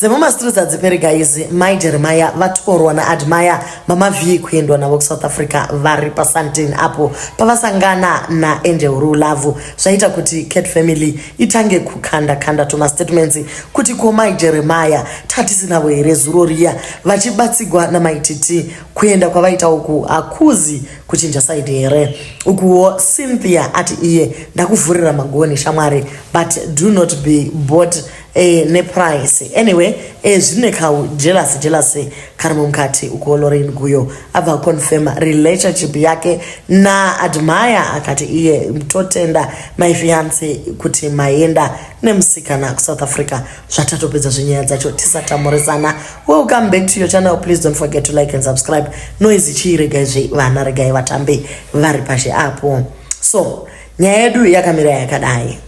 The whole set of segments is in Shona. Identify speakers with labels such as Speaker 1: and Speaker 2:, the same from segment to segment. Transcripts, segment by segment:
Speaker 1: dzemumastreets hadziperi guys mai jeremaya vatorwa naadmire mama vhii kuendwa navo kusouth africa vari pasantin apo pavasangana naangel rulavu zvaita kuti cat family itange kukanda kanda tumastatements kuti ko mai jeremaya tatisinavo here zuro riya vachibatsigwa namaititi kuenda kwavaita uku hakuzi kuchinja saidi here ukuwo cynthia ati iye ndakuvhurira magoni shamwari but do not be bot eh, neprice anyway eh, zvine kau jealous jealous kari mumukati uko lorin guyo abva confirm relationship yake na admire akati iye totenda my fiance kuti maenda nemusikana kusouth africa zvatatopedza zvenyaya dzacho tisatamurisana welcome back to your channel please don't forget to like and subscribe noise chii regai zve vana regai vatambe vari pashe apo so nyaya yedu yakamira yakadai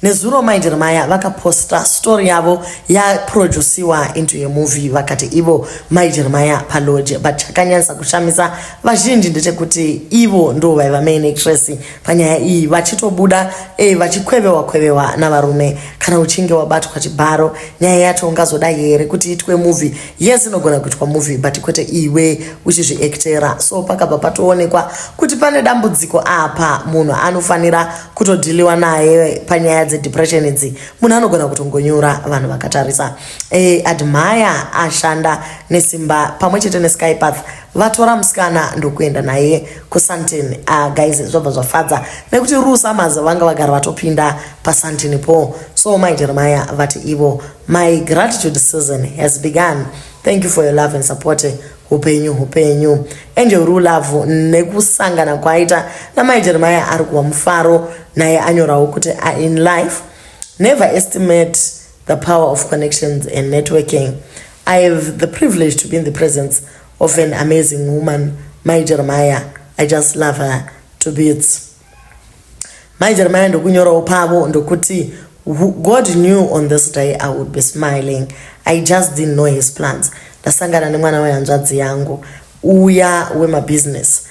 Speaker 1: Nezuro mai Jeremiah vakaposta story yavo yaproduciwa into yemovie vakati ivo mai Jeremiah palodge but chakanyanyisa kushamisa vazhinji ndechekuti ivo ndo vaiva main actress panyaya iyi vachitobuda e vachikwevewa kwevewa navarume kana uchinge wabatwa chibharo nyaya yacho ungazoda here kuti itwe movie yes inogona kuitwa movie but kwete iwe uchizviactera so pakabva patoonekwa kuti pane dambudziko apa munhu anofanira kutodhiliwa naye panyaya dzedepression idzi munhu anogona kutongonyura vanhu vakatarisa e, admire ashanda nesimba pamwe chete neskypath vatora musikana ndokuenda naye kusantin ah, guys zvabva zvafadza nekuti rusa mazi vanga vagara vatopinda pasantin po so mai jeremiah vati ivo my gratitude season has begun thank you for your love and support hupenyu hupenyu angel rulavu nekusangana kwaita namai jeremaya ari kuva mufaro naye anyorawo kuti are in life never estimate the power of connections and networking i have the privilege to be in the presence of an amazing woman mai jeremaya i just love her to bits Mai Jeremiah ndokunyorawo pavo ndokuti God knew on this day I would be smiling. I just didn't know his plans. Ndasangana nemwana wehanzvadzi yangu uya wemabusiness.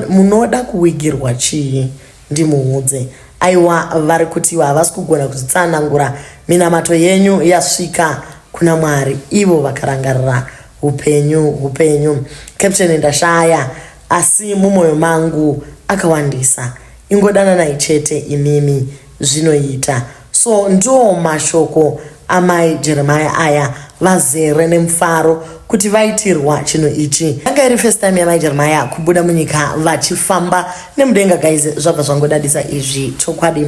Speaker 1: Munoda kuwigirwa chii? Ndimuudze. Aiwa vari kuti ivo havasi kugona kuzvitsanangura. Minamato yenyu yasvika kuna Mwari. Ivo vakarangarira upenyu upenyu. Captain ndashaya Asi mumoyo mangu akawandisa. Ingodananai chete imimi zvinoita. So ndoo mashoko amai Jeremiah aya vazere nemufaro kuti vaitirwa chinhu ichi. Yanga iri first time yamai Jeremiah kubuda munyika vachifamba nemudenga guys zvabva zvangodadisa izvi chokwadi.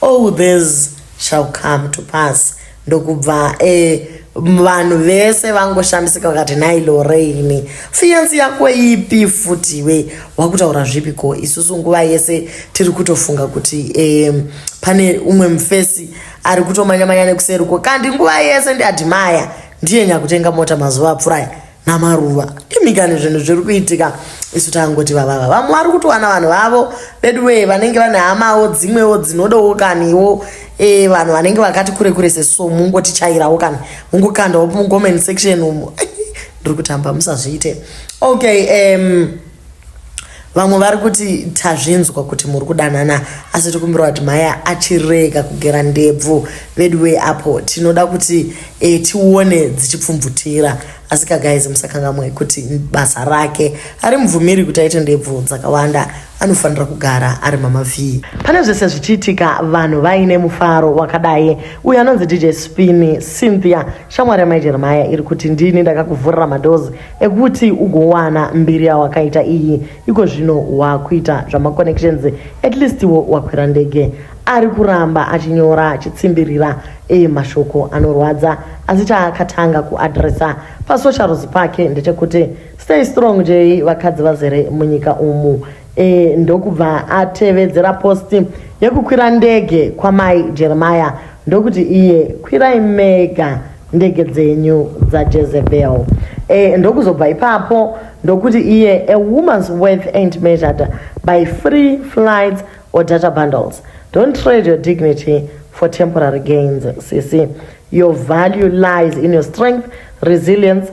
Speaker 1: all this shall come to pass ndokubva eh, vanhu vese vangoshamisika vakati nhai loreini fiyansi yako ipi futi iwe wakutaura zvipi ko isusu nguva yese tiri kutofunga kuti eh, pane umwe mufesi ari kutomanyamanya nekuseri ko kandi nguva yese ndiadhimaya ndiye nyakutenga mota mazuva apfurai namaruva imikani zvinhu zviri kuitika isu tangoti vavava vamwe vari kutowana vanhu vavo veduwee vanenge vane hamawo dzimwewo dzinodawo kaniwo e, vanhu vanenge vakati kure kure seso mungotichairawo kani mungokandawo mucomment section umo ndiri kutamba musazviite okay um, vamwe vari kuti tazvinzwa kuti muri kudanana asi tikumbirwa kuti maya achirega kugera ndebvu veduwei apo tinoda kuti e, tione dzichipfumvutira asi kagaizi musakangamwe kuti basa rake ari mubvumiri kuti aite ndebvu dzakawanda anofanira kugara ari mama vhii pane zvese zvichiitika vanhu vaine mufaro wakadai uyo anonzi dj spini cynthia shamwari yamai jeremaya iri kuti ndini ndakakuvhurira madozi ekuti ugowana mbiri yawakaita iyi iko zvino wakuita zvamaconnections at least wo wakwira ndege ari kuramba achinyora achitsimbirira e mashoko anorwadza asi chaakatanga kuadresa pasocials pake ndechekuti stay strong jei vakadzi vazere munyika umu e, ndokubva atevedzera post yekukwira ndege kwamai jeremiah ndokuti iye kwirai mega ndege dzenyu dzajezebel e, eh, ndokuzobva ipapo ndokuti iye a woman's worth ain't measured by free flights or data bundles don't trade your dignity for temporary gains cc your value lies in your strength resilience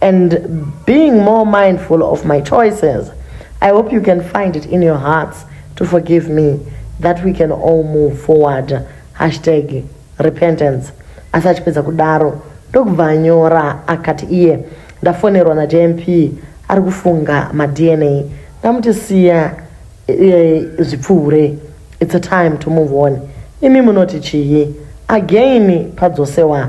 Speaker 1: and being more mindful of my choices i hope you can find it in your hearts to forgive me that we can all move forward hashtag repentance asi achipedza kudaro ndokubva anyora akati iye ndafonerwa najmp ari kufunga madna ndamuti siya e, zvipfuure its a time to move on imi munoti chii again padzosewa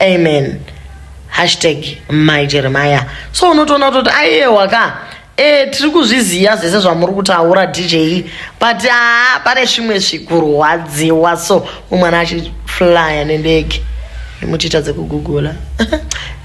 Speaker 1: amen hashtag mai jeremiah so unotoona kutoti aiyewa ka e, tiri kuzviziva zvese zvamuri kutaura dj but haa pane zvimwe zvikurwadziwa so umwana achiflya nendege muchiita dzekugugula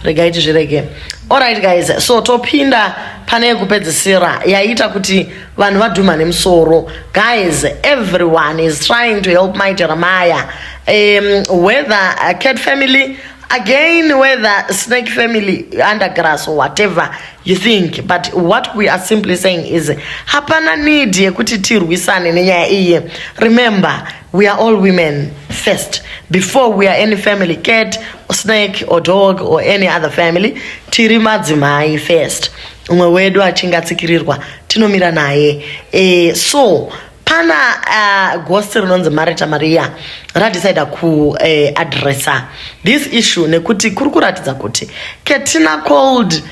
Speaker 1: regai tizvirege allright guys so topinda pane yekupedzisira yaiita kuti vanhu vadhuma nemusoro guys everyone is trying to help my jeremiah um, whether a cat family again whether snake family undergrass or whatever you think but what we are simply saying is hapana need yekuti tirwisane nenyaya iye remember We are all women first before we are any family cat or snake or dog or any other family tiri madzimai first umwe wedu achinge atsikirirwa tinomira naye e, so pana uh, gosi rinonzi marita maria radecida kuadressa eh, uh, this issue nekuti kuri kuratidza kuti ketina cold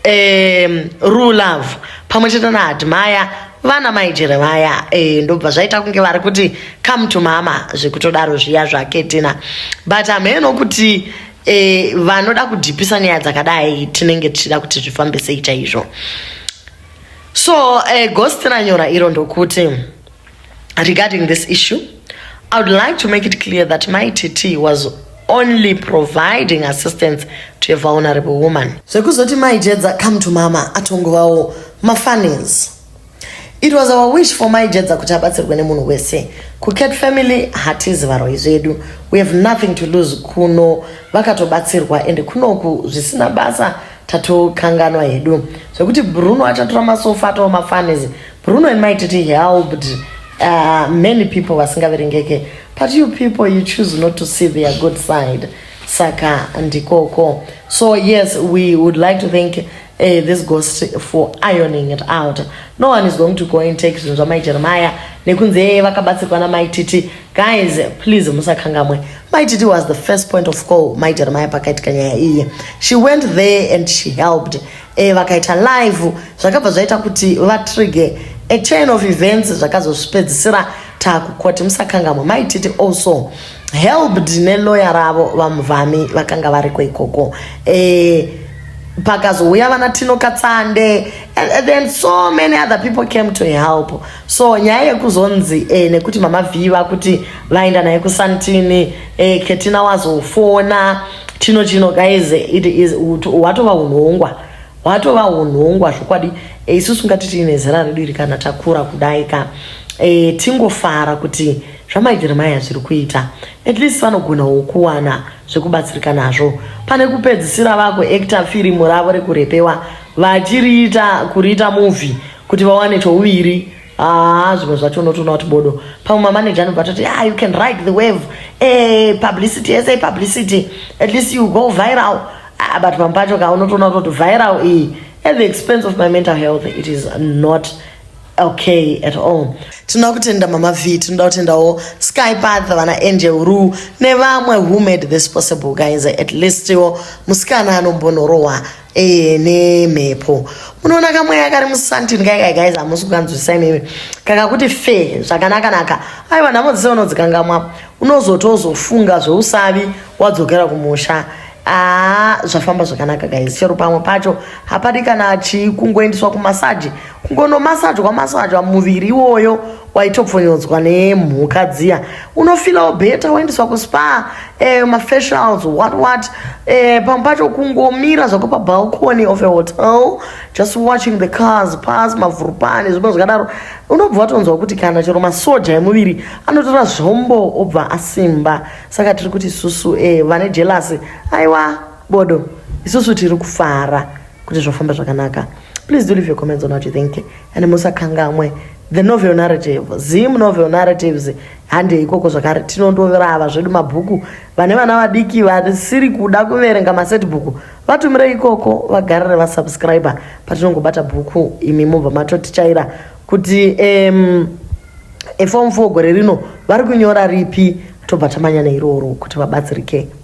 Speaker 1: um, rue love pamwe chete naadmaya vana maijere vaya e, ndobva zvaita kunge vari kuti come to mama zvekutodaro zviya zvaketina but hameno kuti e, vanoda kudhipisa nyaya dzakadai tinenge tichida kuti zvifambe sei chaizvo so e, eh, gosti ranyora iro ndokuti regarding this issue i would like to make it clear that my tt was only providing assistance to a vulnerable woman zvekuzoti mai jedza come to mama atongovawo mafunnies it was our wish for mai jedza kuti abatsirwe nemunhu wese kucat family hatizi varoi zvedu we have nothing to lose kuno vakatobatsirwa and kunoku zvisina basa tatokanganwa hedu zvekuti bruno achatora masofa atova mafunnies Bruno and my tete helped uh, many people vasingaverengeke but you people you choose not to see their good side saka ndikoko so yes we would like to thank uh, this ghost for ironing it out no one is going to go and take zvinhu zvamai jeremiah nekunze vakabatsirwa namai titi guys please musakangamwe mai titi was the first point of call mai jeremiah pakaitika nyaya iye she went there and she helped e, vakaita live zvakabva zvaita kuti vatrige a chain of events zvakazozvipedzisira takukoti musakangamwe maititi also helped neloya ravo vamuvhami vakanga variko ikoko e, pakazouya vana tino katsande and then so many other people came to help so nyaya yekuzonzi eh, nekuti mama vhiva kuti vaenda naye kusantini eh, ketina wazofona chino chino guys it is hwatova unhongwa hwatova unhongwa zvokwadi eh, isusu ngati tiine zera redu iri kana takura kudai ka e, tingofara kuti zvamaijeremaya zviri kuita at least vanogonawo kuwana zvekubatsirika nazvo pane kupedzisira vako actor firimu ravo rekurepewa vachiriita kuriita movie kuti vawane chouviri Haa zvimwe zvacho unotoona kuti bodo pamwe mamaneja anobva atoti ah, you can ride the wave hey, eh, publicity yese publicity at least you go viral ah, but pamwe pacho ka unotoona kuti viral iyi at the expense of my mental health it is not okay at all tinoda kutenda mama v tinoda kutendawo skypath vana angel ru nevamwe who made this possible guys at least wo musikana anombonorohwa Eh, nemhepo munoona kamweya kari musantini kaikai guys hamusi kukanzwisisa imimi kakakuti fe zvakanakanaka aiwa nhamo dzese unodzikangamwa unozotozofunga zveusavi wadzokera kumusha aa ah, zvafamba zvakanaka guys chero pamwe pacho hapadi kana chii kungoendeswa kumasaji kungonomasajwa masajwa muviri iwoyo waitopfonyonzwa nemhuka dziya unofilawo beta waendeswa kuspa eh, mafacials what what eh, pamwe pacho kungomira zvako pabalcony of a hotel just watching the cars pass mavhurupani zvimwe zvakadaro unobva watonzwa kuti kana chero masoja emuviri anotora zvombo obva asimba saka tiri kuti isusu eh, vane jelasi aiwa bodo isusu tiri kufara kuti zvofamba zvakanaka please do leave your comments on what you think and musakangamwe the novel narrative zim novel narratives handei ikoko zvakare tinondorava zvedu mabhuku vane vana vadiki vasiri kuda kuverenga maset bhuku vatumirei ikoko vagarire vasubscribe patinongobata bhuku imi mobva matotichaira kuti um, efom fo gore rino vari kunyora ripi tobva tamanya neiroro kuti vabatsirike